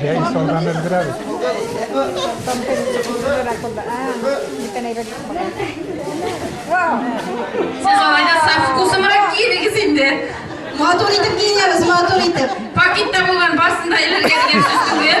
Җәй салган өлгерәбез. Сез алай да саф вкусымрак киенегез инде. Матур итеп киенәбез, матур итеп. Пакетта булган барсын да элергия дигән сүз түгел.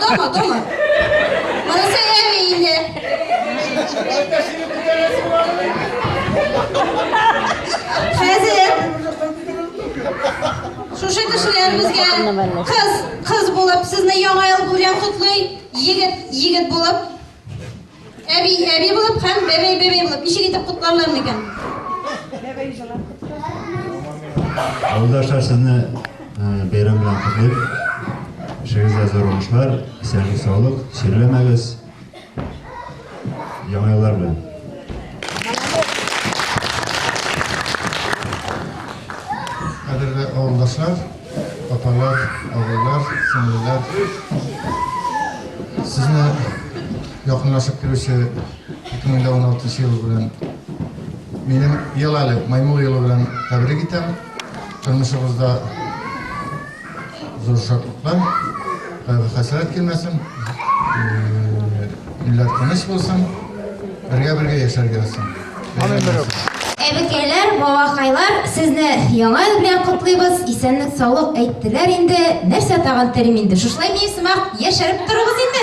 дома, дома. Молодцы, Эви, Инде. Хәзер шушы кешеләребезгә кыз, кыз булып, сезне яңа ел белән котлый, егет, егет булып Әби, әби булып һәм бәбәй, бәбәй булып. Ничек итеп котларлар микән? Бәбәй җылап. Авылдашлар сезне бәйрәм белән котлыйм. Эшегездә зур уңышлар, исәнлек, саулык, чирләмәгез. Яңа еллар белән. Кадерле авылдашлар, Апалар, абыйлар, сеңлеләр, сезне якынлашып килүче 2016 елы белән минем ел әле маймыл елы белән тәбрик итәм. Тормышыгызда зур шатлыклар, кайгы хәсрәт килмәсен, илләр тыныч булсын, бергә-бергә яшәргә булсын. Әбекәйләр, бабакайлар, сезне яңа ел белән котлыйбыз. Исәнлек, саулык әйттеләр инде. Нәрсә тагын телим инде? Шушылай мин сымак яшәреп торыгыз инде.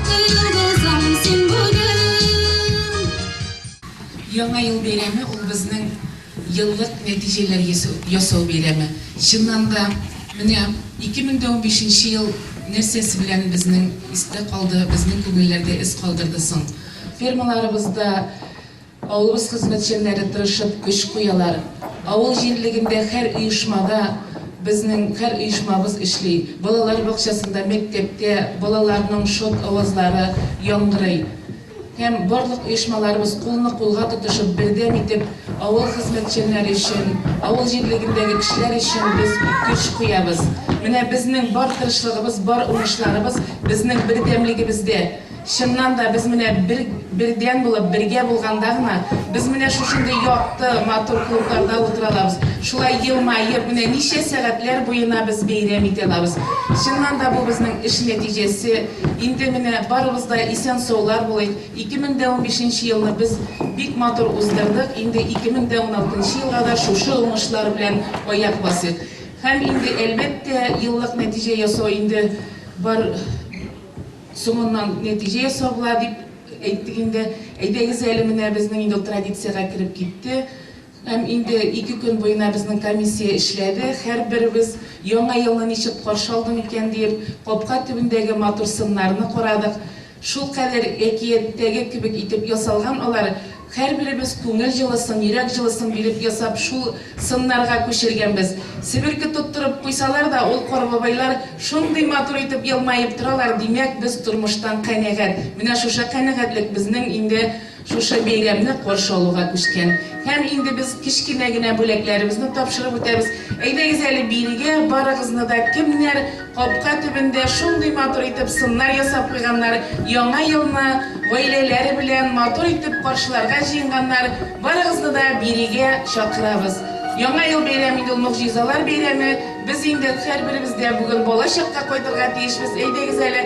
Яңа ел бәйрәме ул безнең еллык нәтиҗәләр ясау бәйрәме. Чыннан да, менә 2015 нче ел нәрсәсе белән безнең истә калды, безнең күңелләрдә эз калдырды соң? Фермаларыбызда Авылыбыз хезмәтчәннәре тырышып көч куялар. Авыл җирлегендә хәр оешмада безнең хәр оешмабыз эшли. Балалар бакчасында, мәктәптә балаларның шот авазлары яңгырый. Һәм барлык оешмаларыбыз кулны кулга тотышып, бердәм итеп авыл хезмәтчәннәре өчен, авыл җирлегендәге кешеләр өчен без көч куябыз. Менә безнең бар тырышлыгыбыз, бар уңышларыбыз безнең бердәмлегебездә. Чыннан да, без менә бер, бердәм булып, бергә булганда гына, без менә шушындый якты, матур клубларда утыра алабыз, шулай елмаеп, менә ничә сәгатьләр буена без бәйрәм итә алабыз. Чыннан да, бу безнең эш нәтиҗәсе. Инде менә барыбыз да исән-саулар булыйк. 2015 нче елны без бик матур уздырдык, инде 2016 нчы елга да шушы уңышлар белән аяк басыйк. Һәм инде, әлбәттә, еллык нәтиҗә ясау инде бар. Соңыннан нәтиҗә ясауга дип әйттек инде. Әйдәгез әле, менә безнең инде ул традициягә кереп китте. Һәм инде ике көн буена безнең комиссия эшләде. Һәрберебез Яңа елны ничек каршы алдым икән диеп, капка төбендәге матур сыннарны карадык. Шулкадәр әкияттәге кебек итеп ясалган алар, Һәрберебез күңел җылысын, йөрәк җылысын биреп ясап шул сыннарга күчергәнбез. Себерке тоттырып куйсалар да, ул Корбабайлар шундый матур итеп елмаеп торалар, димәк, без тормыштан канәгать. Менә шушы канәгатьлек безнең инде шушы бәйрәмне каршы алуга күчкән. Һәм инде без кечкенә генә бүләкләребезне тапшырып үтәбез. Әйдәгез әле бирегә, барыгызны да кемнәр Капка төбендә шундый матур итеп сыннар ясап куйганнар, яңа елны гаиләләре белән матур итеп каршыларга җыенганнар, барыгызны да бирегә чакырабыз. Яңа ел бәйрәме инде ул могҗизалар бәйрәме, без инде һәрберебез дә бүген балачакка кайтырга тиешбез, әйдәгез әле,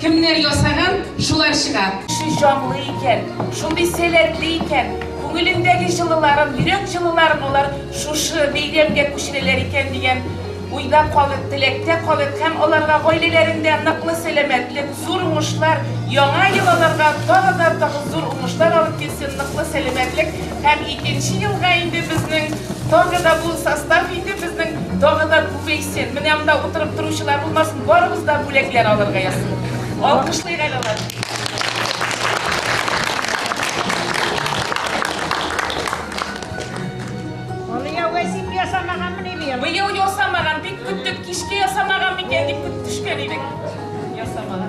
Кемнәр ясаган, шулар чыга. Ши җанлы икән, шундый сәләтле икән, күңелендәге җылыларын, йөрәк җылыларын алар шушы бәйрәмгә күчерәләр икән дигән уйда калыйк, теләктә калыйк һәм аларга гаиләләрендә ныклы сәламәтлек, зур уңышлар, яңа ел аларга тагы да тагы зур уңышлар алып килсен, ныклы сәламәтлек һәм икенче елга инде безнең тагы да бу состав инде безнең тагы да күбәйсен. Син, менә монда утырып торучылар булмасын, барыбыз да бүләкләр алырга язсын. Алкышлыйк әле алар. Быел ясамаган, бик көттек, кичке ясамаган микән дип көтеп төшкән идек. Ясамаган.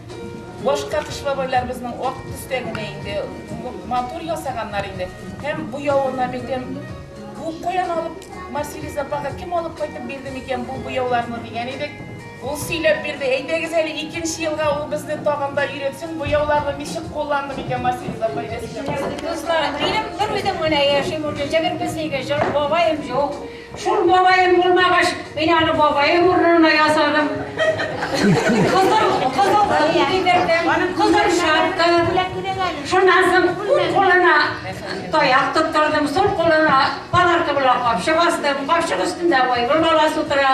Башка кыш бабайлар безнең ак төстә генә инде, матур ясаганнар инде. Һәм буявына битем, бу каян алып Марсилис апага кем алып кайтып бирде микән бу буяуларны дигән идек. Ул сөйләп бирде, әйдәгез әле икенче елга ул безне тагын да өйрәтсен, буяуларны ничек кулланды микән Марсилис апа әйдәгез әле. Дустар, минем бер үзем генә яшим, урысча гел безнеке, бабаем юк. Шул бабаем булмагач, мин аны бабаем урынына ясадым. Кызыл, кызыл кием бирдем, кызыл шапка. Шуннан соң уң кулына таяк тоттырдым, сул кулына палатка белән капчык астым, капчык өстендә Айгөл баласы утыра.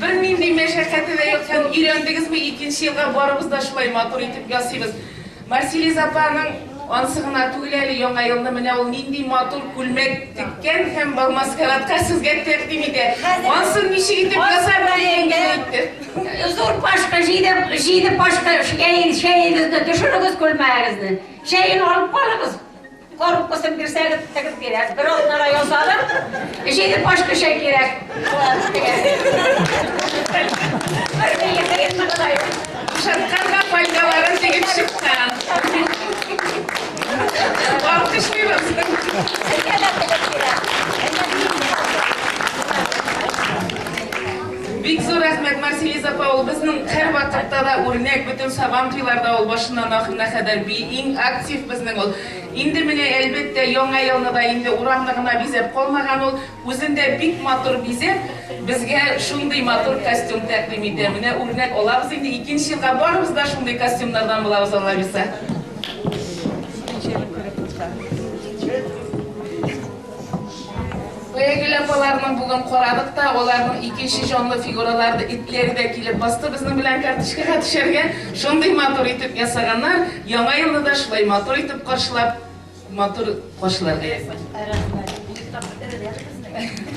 Бернинди мәшәкате дә юк һәм өйрәндегезме, икенче елга барыбыз да шулай матур итеп ясыйбыз. Марсилиз апаның ансы гына түгел әле Яңа елны менә ул нинди матур күлмәк теккән һәм балмаскаратка сезгә тәкъдим итә. Ансын ничек итеп ясар дигән генә әйтте. Зур пашка җиде, җиде пашка чәй, чәегезне төшерегез күлмәгегезне. Чәен алып барыгыз. Коробкасын бирсәгез, тегеп бирәм. Бер атнага ясадым. Җиде пачка чәй кирәк. Шаркарга файдаларын тегеп чыккан. Алкышлыйбыз. Әйдә, әйдә, әйдә. Бик зур рәхмәт, Марселиз апа, ул безнең һәрвакытта да үрнәк, бөтен Сабантуйларда ул башыннан ахырына кадәр би, иң актив безнең ул. Инде менә, әлбәттә, Яңа елны да инде урамны гына бизәп калмаган ул, үзен дә бик матур бизәп, безгә шундый матур костюм тәкъдим итә. Менә үрнәк алабыз инде, икенче елга барыбыз да шундый костюмнардан булабыз, Аллабирса. Бәйгеле апаларны бүген карадык та, аларның икенче җанлы фигуралары, итләре дә килеп басты безнең белән карточкага төшәргә. Шундый матур итеп ясаганнар. Яңа елны да шулай матур итеп каршылап, матур каршыларга язсын. Рәхмәт. Бик тә матур.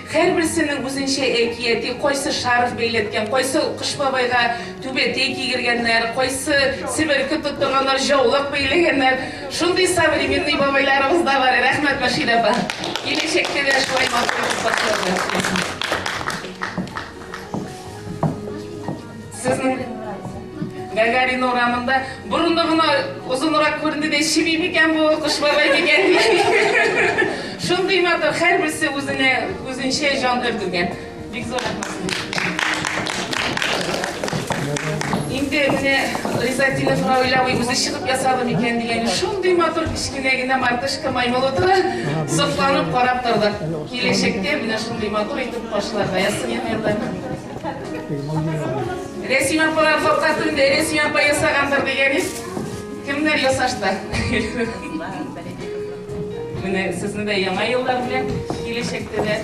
Һәрберсенең үзенчә әкияти, кайсы шарф бәйләткән, кайсы Кыш бабайга түбәтәй кигергәннәр, кайсы себерке тоттырганнар, җаулык бәйләгәннәр. Шундый современный бабайларыбыз да бар. Рәхмәт, Мөршидә апа! Киләчәктә дә шулай матур итеп башлагыз! Сезнең Гагарин урамында борыны гына озынрак күренде дә чеби микән бу кош бабай дигән. Шундый матур, һәрберсе үзенә үзенчә җан өрдергән. Бик зур Инде менә Ризатинов Раулявый үзе чыгып ясады микән дигән. Шундый матур кечкенә генә мартышка маймыл утыра, сокланып карап тордык. Киләчәктә менә шундый матур итеп кошлар да ясыйм, Рәсим апалар капкасын да Рәсим апа ясагандыр дигәнез. Кемнәр ясашта? Менә сезне дә яңа еллар белән киләчәктә дә.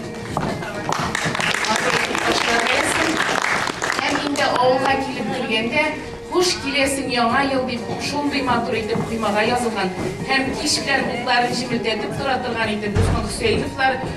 Һәм инде авылга килеп килгәндә Хуш киләсең яңа ел дип шундый матур итеп коймага язылган һәм кич белән утларын җемелдәтеп тора торган итеп Госман Хөсәеновлар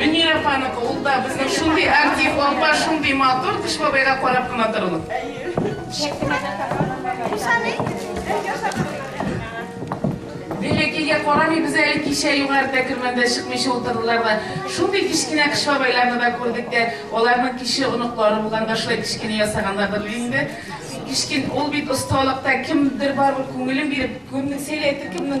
Мөнир апаныкы, ул да безнең шундый актив, апа шундый матур, Кыш бабайга карап кына торыгыз. Бәләкәйгә карамый без әле кичә югарыда кермәндә чыкмыйча утырдылар да. Шундый кечкенә кыш бабайларны да күрдек тә, аларның кече оныклары булганда шулай кечкенә ясагандадыр инде. Кичкен ул бит осталыкта кемдер барып күңелен биреп, кемнең сәләте, кемнең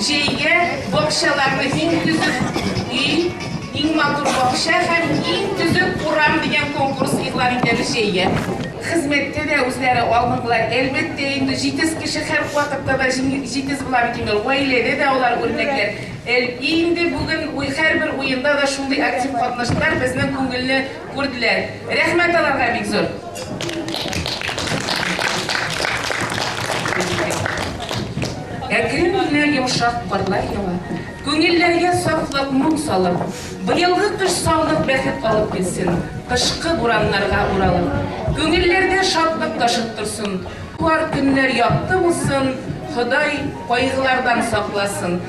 Җәйгә бакчаларны иң төзек өй, иң матур бакча һәм иң төзек урам дигән конкурс игълан итәбез җәйгә. Хезмәттә дә үзләре алдынгылар, әлбәттә инде, җитез кеше һәр вакытта да җитез була бит инде, гаиләдә дә алар үрнәкләр. Әле инде бүген һәрбер уенда да шундый актив катнаштылар, безнең күңелне Күрделәр. Рәхмәт аларга бик зур. Әкрен генә йомшак карлар ява, күңелләргә сафлык, моң салып, быелгы кыш саулык, бәхет алып килсен, кышкы бураннарга уралып, күңелләрдә шатлык ташып торсын, туар көннәр якты булсын, Ходай кайгылардан сакласын.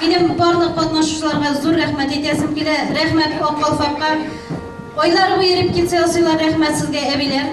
Минем барлык катнашучыларга зур рәхмәт әйтәсем килә, рәхмәт Ак калфакка. Айлар буе репетиция ясыйлар, рәхмәт сезгә, әбиләр.